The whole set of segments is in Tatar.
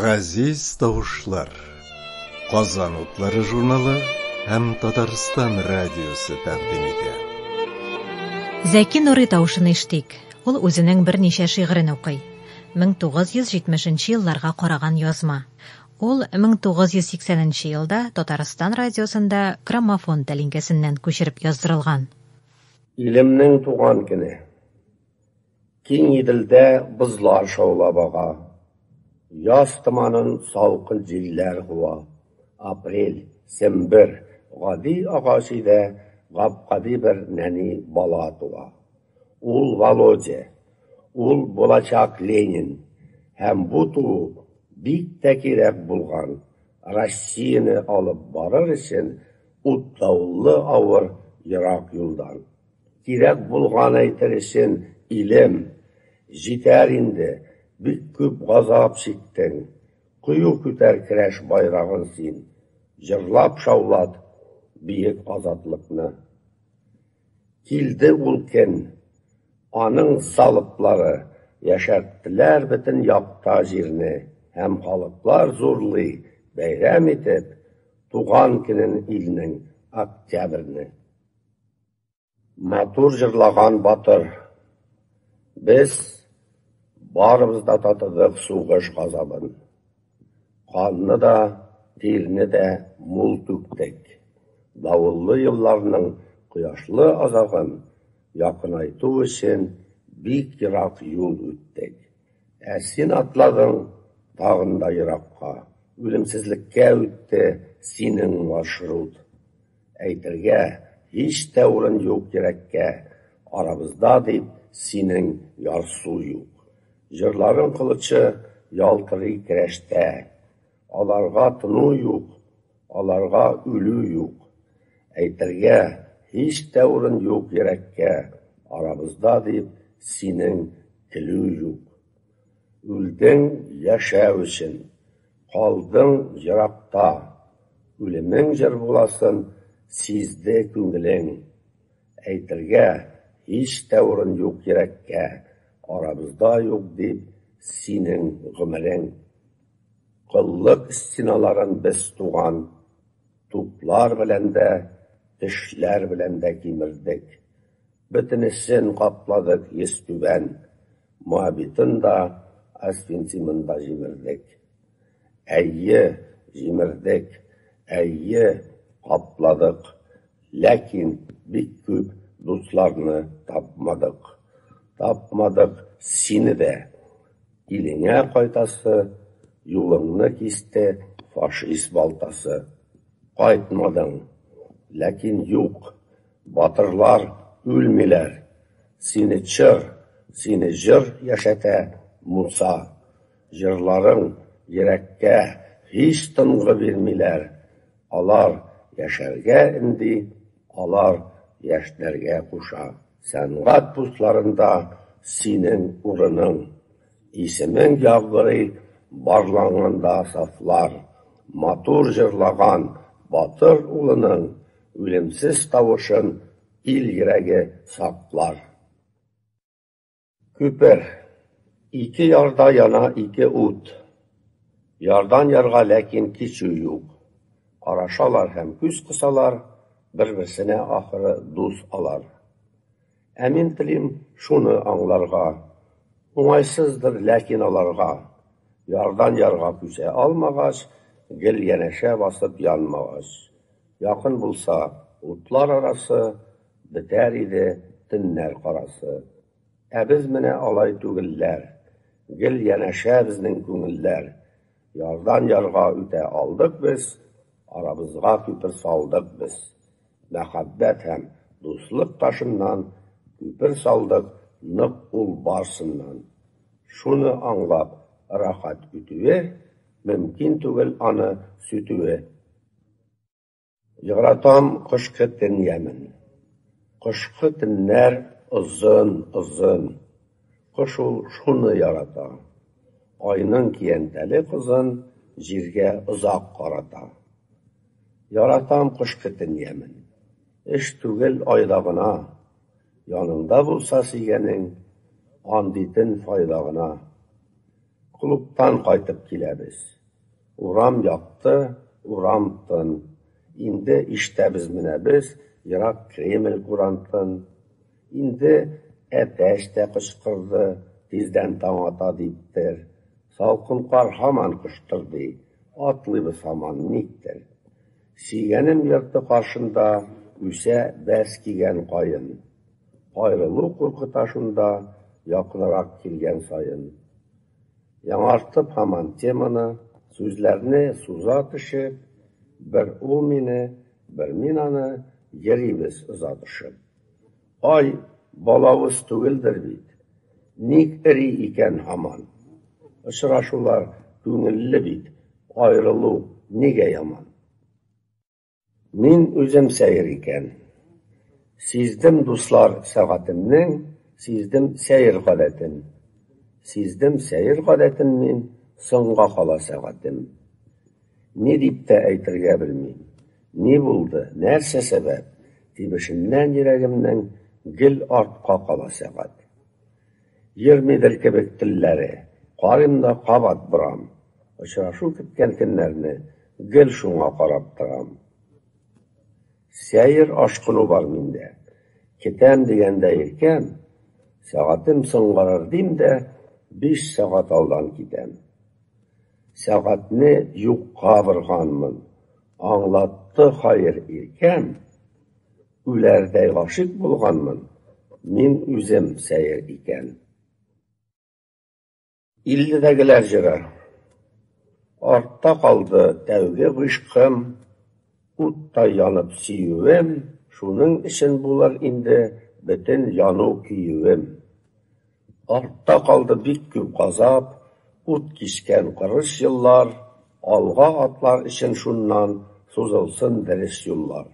Газиз тавышлар. Казан утлары журналы һәм Татарстан радиосы тәкъдим итә. Зәки Нурый тавышын иштик. Ул үзенең берничә шигырен укый. 1970 елларга караган язма. Ул 1980 елда Татарстан радиосында граммофон тәлинкәсеннән күчереп яздырылган. Илемнең туган көне. Киң Иделдә бозлар шаулап ага. Яз томанын салкын җилләр куа. Апрель, сембер, гади агач өйдә гап-гади бер нәни бала туа. Ул Володя. Ул булачак Ленин. Һәм бу туу бик тә кирәк булган, Россияне алып барыр өчен утлаулы авыр ерак юлдан. Кирәк булган әйтер өчен илем, җитәр инде, бик күп газап чиктең, кыю күтәр керәш байрагын син, җырлап шаулат биек азатлыкны. Килде ул көн. Аның залплары яшәрттеләр бөтен якта җирне һәм халыклар зурлый, бәйрәм итеп, туган көнен илнең, Октябрьне. Матур җырлаган батыр. Без барыбыз да татыдык сугыш газабын. Канны да, тирне дә мул түктек. Давыллы елларның кояшлы азагын якынайту өчен бик ерак юл үттек. Ә син атладың тагын да еракка. Үлемсезлеккә үтте синең маршрут. Әйтергә, һич тә урын юк йөрәккә, Арабызда дип синең ярсу юк. Җырларың кылычы ялтырый керәштә, Аларга тыну юк, аларга үлү юк. Әйтергә, һич тә урын юк йөрәккә, Арабызда дип синең көлү юк. Үлдең яшәү өчен, калдың еракта, Үлемең җыр буласын сизде күңелең. Әйтергә һич тә урын юк йөрәккә, Арабызда юк дип синең гомерең. Коллык стеналарын без туган туплар белән дә, Тешләр белән дә кимердек. Бөтенесен капладык йөзтүбән, Моабитын да, Астинтимын да җимердек. Әйе, җимердек, әйе, капладык, ләкин бик күп дусларны тапмадык. Тапмадык сине дә. Илеңә кайтасы, юлыңны кисте фашист балтасы. Кайтмадың. Ләкин юк. Батырлар үлмиләр, сине чор, Сине җыр яшәтә, Муса. Җырларың йөрәккә Һич тынгы бирмиләр. Алар яшәргә энди, Алар яшьнәргә куша. Сәнгать пусларында Синең урының. Исемең яңгырый Барланганда сафлар. Матур җырлаган Батыр улының, Үлемсез тавышын ил йөрәге саклар. Күпер. Ике ярда яна ике ут. Ярдан ярга ләкин кичү юк. Карашалар һәм күз кысалар, бер-берсенә ахыры дус алар. Ә мин телим шуны аңларга. Уңайсыздыр ләкин аларга. Ярдан ярга күчә алмагач, гел янәшә басып янмагач. Якын булса, утлар арасы, Бетәр иде төннәр карасы. Ә без менә алай түгелләр, Гел янәшә безнең күңелләр. Ярдан ярга үтә алдык без, Арабызга күпер салдык без. Мәхәббәт һәм дуслык ташыннан Күпер салдык нык ул барсыннан. Шуны аңлап, рәхәт үтүе, Мөмкин түгел аны сүтүе. Яратам кышкы төн ямен. Кышкы төннәр озын, озын. Кош ул шуны ярата. Айның киянтәле кызын җиргә озак карата. Яратам кышкы төн ямен. Эш түгел айда гына. Яныңда булса сөйгәнең, андый төн файда гына. Клубтан кайтып киләбез. Урам якты, урам тын. Инде иштәбез менә без, ерак Кремль курантын. Инде әтәч тә кычкырды, тиздән таң ата диптер. Салкын кар һаман коштырдый, атлыйбыз һаман никтер. Сөйгәнем йорты каршында үсә бәс кигән каен. Аерылу куркыта шунда, якынрак килгән саен. Яңартып һаман теманы, сүзләрне суза төшеп, Бер ул мине, бер мин аны, йөрибез оза төшеп. Ай, балавыз түгелдер бит, ник эри икән һаман? Очрашулар күңелле бит, аерылу нигә яман? Мин үзем сәер икән. Сиздем, дуслар, сәгатемнең, сиздем сәер гадәтен. Сиздем сәер гадәтен мин, соңга кала сәгатем. Ни дип тә әйтергә белмим. Ни булды, нәрсә сәбәп? Тибешеннән йөрәгемнең гел артка кала сәгать. Йөрмидер кебек телләре, карыйм да кабат борам. Очрашу көткән көннәрне гел шуңа карап торам. Сәер ашкыну бар миндә. Китәм дигәндә иркәм, сәгатем соңгарыр дим дә, биш сәгать алдан китәм. Сәгатьне юкка борганмын. Аңлатты хәер иркәм, үләрдәй гашыйк булганмын мин үзем сәер икән. Илдәгеләр җыры. Артта калды тәүге гыйшкым, Уттай янып сөюем, Шуның өчен булыр инде Бөтен яну-көюем. Артта калды бик күп газап, Ут кичкән кырыс еллар, Алга атлар өчен шуннан Сузылсын дөрес юллар.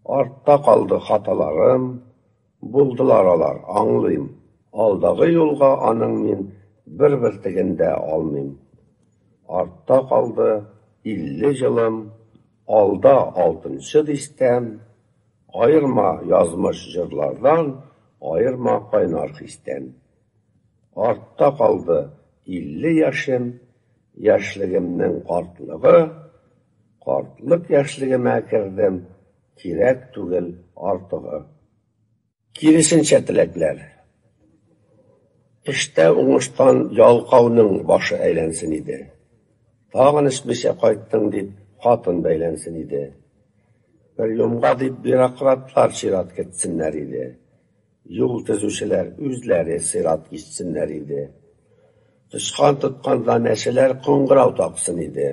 Артта калды хаталарым, Булдылар алар, аңлыйм. Алдагы юлга аның мин бер бөртеген дә алмыйм. Артта калды илле җылым, алда алтынчы дистәм, Аерма язмыш җырлардан, аерма кайнар хистән. Артта калды илле яшем, яшьлегемнең картлыгы, Картлык яшьлегемә кердем, Кирәк түгел артыгы. Киресенчә теләкләр. Эштә уңыштан ялкауның башы әйләнсен иде. Тагын эчмичә кайттың дип, хатын бәйләнсен иде. Приемга дип бюрократлар чират кертсеннәр иде. Юл төзүчеләр үзләре сыйрат кичсеннәр иде. Тычкан тотканда мәчеләр кыңгырау таксын иде.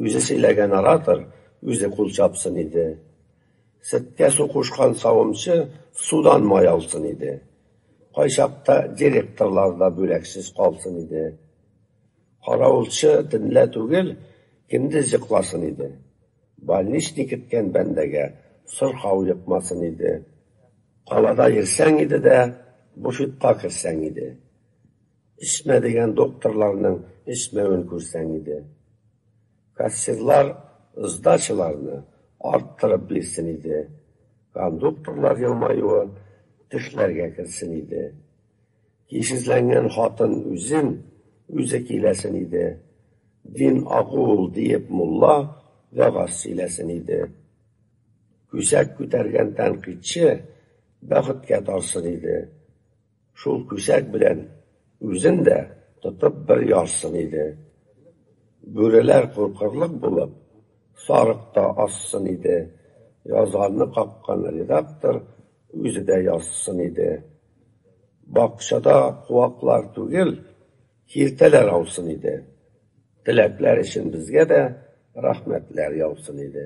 Үзе сөйләгән оратор үзе кул чапсын иде. Сөткә су кушкан савымчы судан май алсын иде. Кайчакта директорлар да бүләксез калсын иде. Каравылчы төнлә түгел, көндез йокласын иде. Больничный көткән бәндәгә сырхау йокмасын иде. Калада йөрсәң иде дә, буфетка керсәң иде. Эчмә дигән докторларның эчмәвен күрсәң иде. Кассирлар сдачаларны арттырып бирсен иде. Кондукторлар елмаюы төшләргә керсен иде. Кишезләнгән хатын үзен үзе киләсен иде. Дин агу ул, диеп мулла вәгазь сөйләсен иде. Күсәк күтәргән тәнкыйтьче бәхеткә тарсын иде. Шул күсәк белән үзен дә тотып бер ярсын иде. Бүреләр куркырлык булып, сарык та ассын иде. Язганны каккан редактор үзе дә язсын иде. Бакчада куаклар түгел, киртәләр аусын иде. Теләкләр өчен безгә дә рәхмәтләр яусын иде.